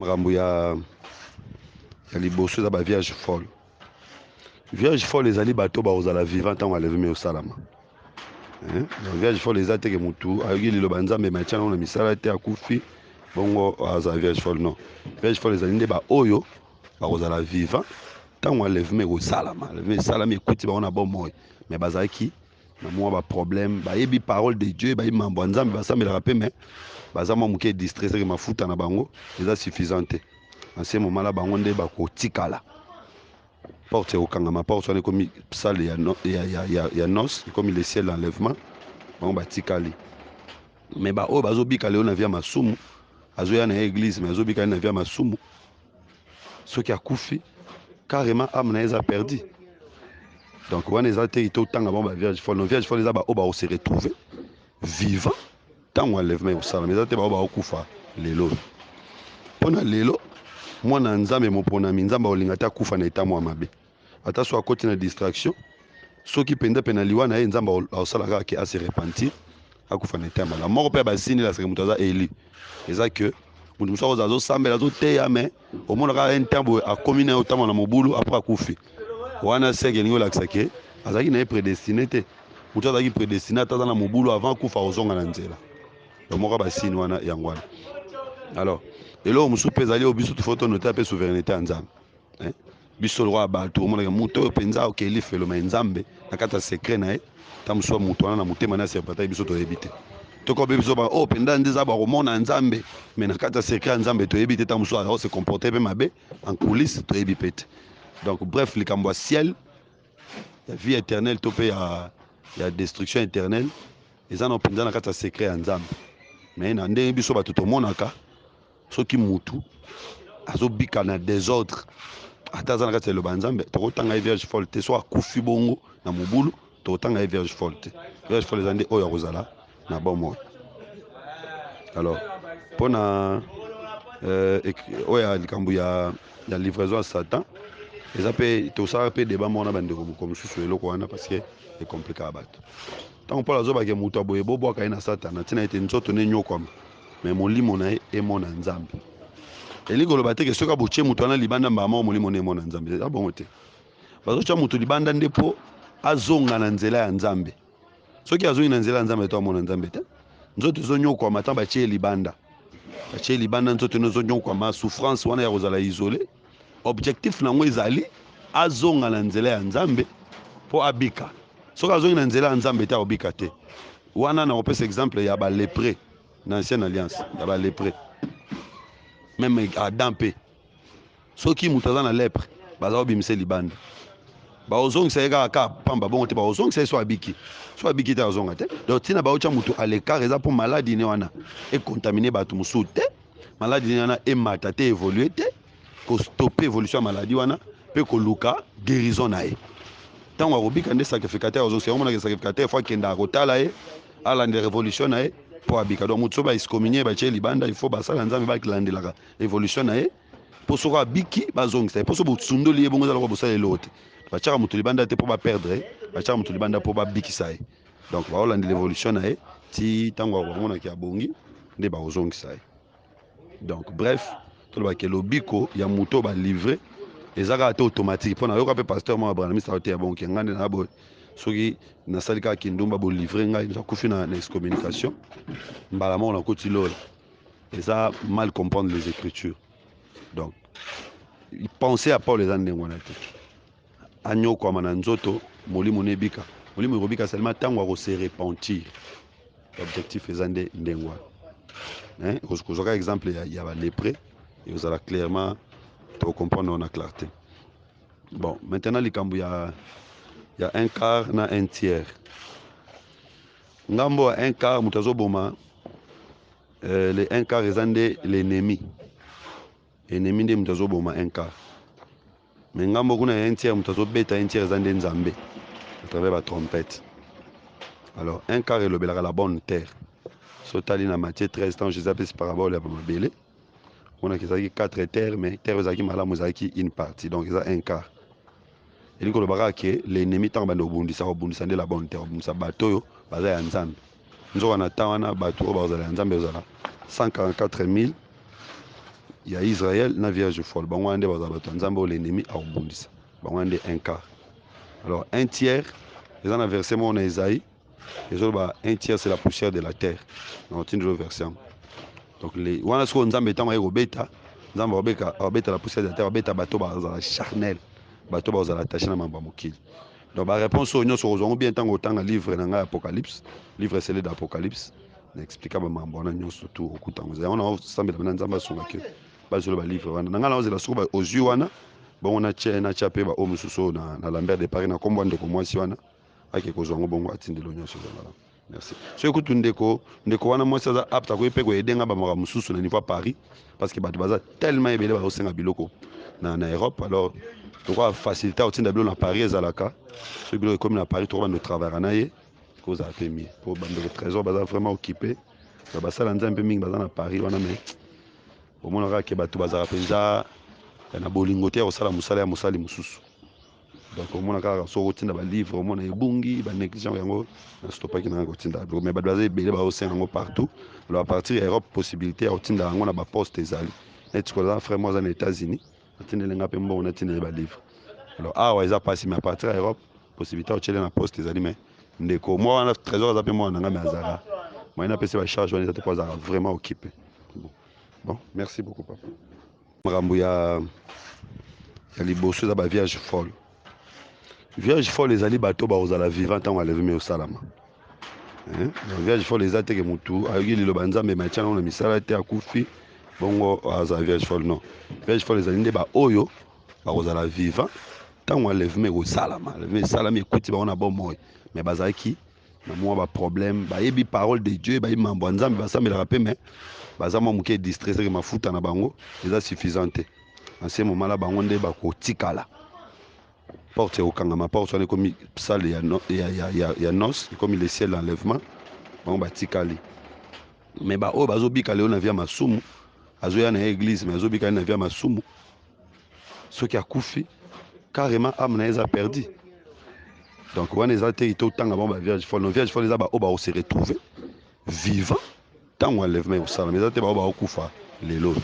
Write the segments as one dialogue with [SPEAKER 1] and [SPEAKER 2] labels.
[SPEAKER 1] makambo ya ya liboso eza ba vierge folle vierge folle ezali bato bakozala vivant ntango aleveme eosalama eh, vierge folle eza teke motu ayoki liloba nzambe matya nango na misala te akufi bongo azala vierge folle non vierge folle ezali nde baoyo bakozala vivant ntango aleveme ekosalama aleveme esalami ekuti bango na bomoi me bazalaki na mwa ba problème bayebi parole de dieu bayebi mambo ya nzambe basambelaka mpe me baza mwa moke distre seke mafuta na bango eza suffisant te na se momala bango nde bakotikala porte ekokangama porte wana ekomi sale ya, no, ya, ya, ya, ya nos ekomi le ciel enlèvement bango batikali me baoyo bazobika lelo na via masumu azoya na ye eglise me azobika ye na via masumu soki akufi carrément ame na ye eza perdu donc wana eza te ite otanga bango bavierge folle no vierge folle eza baoyo bakose retrouve vivant ntango enlèvement ekosalama eza te baoyo bakokufa lelo oyo mpo na lelo mwana ya nzambe moponami nzambe akolinga te akufa na etamwa mabe ata so akoti na distraction soki mpenza mpe na liwa na ye nzambe akosala kaka ke ase repentir akufa na etemba na moko mpe ya basini elasaka moto aza eli eza ke moto mosusu akozala azosambela azoteya me omona kaka un temps boye akomi na ye otambola na mobulu apres akufi wana seke elingi olakisa ke azalaki na ye predestine te moto azalaki predestine ata aza na mobulu avant akufa akozonga na nzela donc moko ya basini wana yango wana alors eloko mosusu mpe ezali oyo biso tofo tonote mpe souveraineté ya nzambe biso lokola bato omonaka moto oyo mpenza akokee lifelo mai nzambe na kati ya sekre na ye ta mosuwa moto wana na motema na serpataki biso toyebi te tokobe biso ba oyo oh, mpenza nde eza bakomona ya nzambe me na kati ya sekre ya nzambe toyebi te ta mosuwa akose comporte mpe mabe en coulisse toyebi mpe te donc bref likambo ya ciel ya vie éternelle to mpe ya, ya destruction éternelle eza na mpenza na kati ya sekre ya nzambe me na ndenge biso bato tomonaka soki mutu azobika na desordre ata aza na kati ya liloba ya nzambe tokotanga ye vierge folle te so akufi bongo na mobulu tokotanga ye vierge folle te vierge folle eza nde oyo akozala na bomoi alors mpo na euh, oyo ya likambo ya, ya livraison ya satan eza mpe tosalaka mpe deba moko na bandeko moko mosusu eloko wana parce que ekomplikaka bato ntango mpolo azobake moto aboye bobwaka ye na satana ntina ete nzoto ne enyokwama mais molimo na ye emona nzambe elingi koloba te ke soki abotie moto wana libanda mbala moko molimo na emona nzambe eza bongo te bazotya moto libanda nde mpo azonga na nzela ya nzambe soki azongi na nzela ya nzambe to amona nzambe te nzoto ezonyokwama ntango batie libanda batie libanda nzoto eno ezonyokwama souffrance wana ya kozala isole objectif na yango ezali azonga na nzela ya nzambe mpo abika soki azongi na nzela ya nzambe te akobika te Wana na kopesa exemple ya ba lepre na ancienne alliance ya ba lepre meme Adam mpe soki moto aza na lepre baza kobimisa libanda bakozongisa ye kaka kaka pamba bongo te bakozongisa ye so abiki so abiki te azonga te donc ntina baotya moto à l'écart eza mpo maladi ne wana econtamine bato mosusu te maladi ne wana emata te evolue te ko stopper evolution ya maladie wana pe koluka guerison na ye ntango akobika nde sacrificateur azosi yango monaka sacrificateur fo akendaka kotala ye alandela revolution na ye mpo abika donc moto so baexcominie ye batye libanda il faut basala nzambe balandelaka evolution na ye mpo soko abiki bazongisa ye mpo so bosundoli ye bongo ezalaka bosala eloko te batyaka moto libanda te mpo baperdre ye batyaka moto libanda mpo babikisa ye donc baolandela evolution na ye ti ntango bakomonaki abongi nde bakozongisa ye donc bref toloba ke lobiko ya moto oyo balivre eza kaka te automatique mpo nayoka mpe pasteur moko abranamisa oteya bonke ngai nde naboye soki nasali kaka kindumba bolivre ngai nakufi na, na excommunication mbala moko nakoti lola eza mal comprendre les écritures donc pensée ya paul eza ndenge wana te anyokwama na nzoto molimo ne ebika molimo ekobika seulement ntango akose repentir objectif eza nde ndenge wana kozwaka exemple ya, ya balepre ekozala clairement tokocomprendre na clarté bon maintenant likambo ya ya un quart na un tiers ngambo ya un quart moto azoboma euh, le un quart eza nde l'ennemi Ennemi nde mutu azo boma un quart mais ngambo kuna ya un tiers mutu azo beta un tiers eza nde Nzambe à travers ba trompettes. Alors un quart elobelaka la bonne terre. So tali na Matthieu 13 tango Jésus apesi parabole ya ba mabele monaki ezalaki 4 terre mais terre ezalaki malamu ezalaki une partie donc eza un quart elingi koloba kaka ke l'ennemi ntango banda kobundisa kobundisa nde la bonne terre kobundisa bato oyo baza ya nzambe Nzoka na temps wana batu oyo bakozala ya Nzambe ekozala 144000 ya Israël na vierge folle. Bango wana nde bakozala bato ya Nzambe oyo l'ennemi akobundisa. Bango wana nde un quart. Alors un tiers eza na verset moko na Esaïe ezoloba un tiers c'est la poussière de la terre. Donc tindi lo verset yango. Donc les wana sikoyo Nzambe ntango aye kobeta Nzambe akobeta la poussière de la terre, abeta bato bazala charnel, bato bazala attaché na mambo ya mokili. Donc ba reponse oyo nyonso okozwa yango bien ntango otanga livre na ngai ya Apocalypse, livre esele d'Apocalypse na explika ba mambo wana nyonso tu okuta yango. Yango na osambela bana Nzambe asunga ke bazwela ba livre wana na ngai na ozela soko ba ozwi wana bongo na tye na tya pe ba oyo mosusu oyo na, na Lambert de Paris na kombo ya ndeko mwasi wana ake kozwa yango bongo atindelo nyonso ezala Merci. Soki kutu ndeko ndeko wana mwasi aza apte akoki mpe koyede nga bamaka mosusu na niveau ya Paris parce que bato baza tellement ebele bazosenga biloko na, na Europe alors tokoka facilité akotinda biloko na Paris ezalaka soki biloko ekomi na Paris tokoba ndo travaillaka na ye kozala mpe mie mpo bandeko trésor baza vraiment occupé na basala nzambe mpe mingi baza na Paris wana mais omonaka ke bato bazalaka mpenza eh, na bolingo te ya kosala mosala ya mosali mosusu donc omona kaka soki otinda balivre omona ebungi banégligent yango na stopaki nanga kotinda biloko mai bato baza ebele baosenga yango partout alo a partir ya europe possibilité ya kotinda yango na baposte ezali neti koza frère mo aza na états-unis atindeli nga mpe mbongo natindeli balivre alo awa eza mpasi mai a partir ya europe possibilité ya kotyele na poste ezali mai ndeko mwa wana trésor aza mpe mwana na ngai mai azalaka mai napesi bacharge wana eza te mpo azalaka vraiment okipe bon merci beaucoup papa makambo ya ya liboso eza ba vierge folle vierge folle ezali bato bakozala vivant ntango aleveme osalama eh, vierge folle eza teke motu ayoki liloba nzambe matya nango na misala te akufi bongo azala vierge folle non vierge folle ezali nde baoyo bakozala vivant ntango aleveme ekosalama aleveme esalami ekuti bango na bomoi me bazalaki na mwa ba problème bayebi parole de dieu bayebi mambo ya nzambe basambelaka mpe me baza mwa moke distre seke mafuta na bango eza suffisant te na se momala bango nde bakotikala porte ekokangama porte wana ekomi sale ya, no, ya, ya, ya, ya nos ekomi le ciel enlèvement bango batikali me baoyo bazobika lelo na via masumu azoya na ye eglise me azobika ye na via masumu soki akufi carrément ame na ye eza perdu donc wana eza te ite otanga bango ba vierge folle no vierge folle eza baoyo bakose retrouve vivant ntango enlèvement ekosalama eza te baoyo bakokufa lelo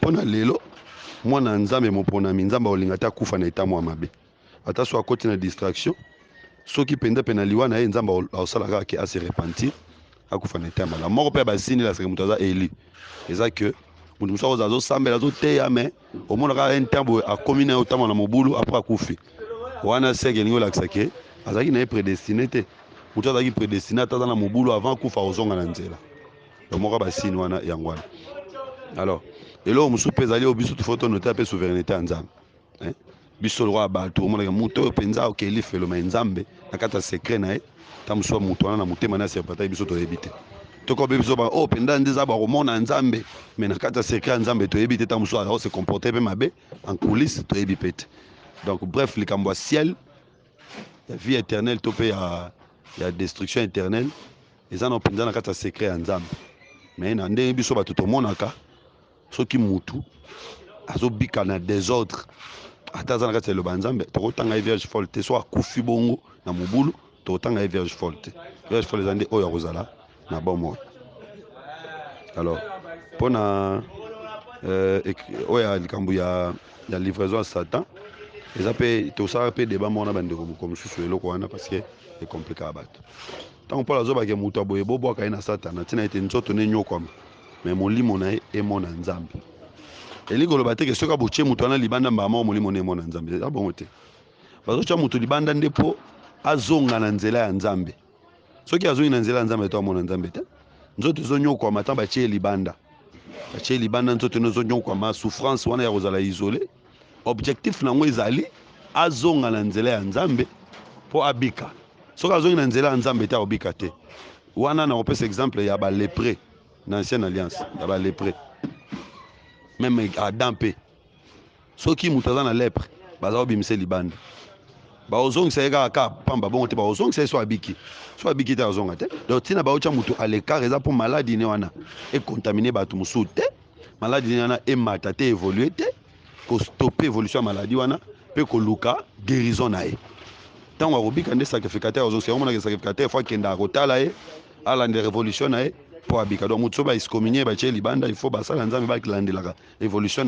[SPEAKER 1] mpo na lelo mwana ya nzambe moponami nzambe akolinga te akufa na etambo ya mabe ata so akoti na distraction soki mpenza mpe na liwa na ye nzambe akosala kaka ke ase repentir akufa na eteya malamu moko mpe ya basini elasaka moto aza eli eza ke moto mosusu akozala azosambela azoteya me omona kaka un temps boye akomi na ye otambwa na mobulu apres akufi wana seke elingi olakisa ke azalaki na ye predestine te moto azalaki predestine ata aza na mobulu avant akufa akozonga na nzela moko ya basini wana yango wana alors eloko mosusu mpe ezali oyo biso tofo tonota mpe souverainete ya nzambe eh? biso lokola bato omonaka moto oyo mpenza oke lifelo mai nzambe na kati ya sekre na ye ta mosusu moto wana na motema na ya serpentaki biso toyebi te tokobi biso ba oyo oh, mpenza nde eza bakomona nzambe mai na kati ya sekre ya nzambe toyebi te ta mosusu azako se comporte mpe mabe en coulisse toyebi mpe te donc bref likambo ya ciel ya vie éternelle to mpe ya, ya destruction éternelle eza na mpenza na kati ya sekre ya nzambe mai na ndenge biso bato tomonaka soki mutu azobika na desordre ata aza na kati ya liloba ya nzambe tokotanga ye vierge folle te so akufi bongo na mobulu tokotanga ye vierge folle te vierge folle eza nde oyo akozala na bomoi alors mpona euh, oyo ya likambo ya, ya livraison ya satan eza mpe tosalaka mpe deba moko na bandeko moko mosusu eloko wana parce que ekomplikaka bato ntango mpolo azobake moto ya boye bobwaka ye na satana ntina ete nzoto ne enyokwama me molimo na ye emona nzambe elingi koloba te ke soki abotie moto wana libanda mbala moko molimo na emona nzambe eza bongo te bazotya moto libanda nde mpo azonga na nzela ya nzambe soki azongi na nzela ya nzambe to amona nzambe te nzoto ezonyokwama ntan batie libanda batie libanda nzoto eno ezonyokwama souffrance wana ya kozala isole Objectif nango ezali azonga na nzela ya Nzambe po abika. Soki azongi na nzela ya Nzambe te akobika te. Wana nakopesa exemple ya ba lepre na ancienne alliance ya ba lepre. Meme Adam pe soki moto aza na lepre baza kobimisa libanda bakozongisa ye kaka kaka pamba bongo te bakozongisa ye so abiki so abiki te azonga te donc ntina baotya moto à l'écart eza mpo maladi ne wana ekontamine bato mosusu te maladi nini wana emata te evolue te kostope evolution ya maladi wana mpe koluka guérison na ye ntango akobika nde sacrificateur azongisa yango monaka sacrificateur fo akendaka kotala ye alanda revolution na ye mpo abika donc moto soki baexcominie batye libanda il faut basala nzambe balandelaka evolution na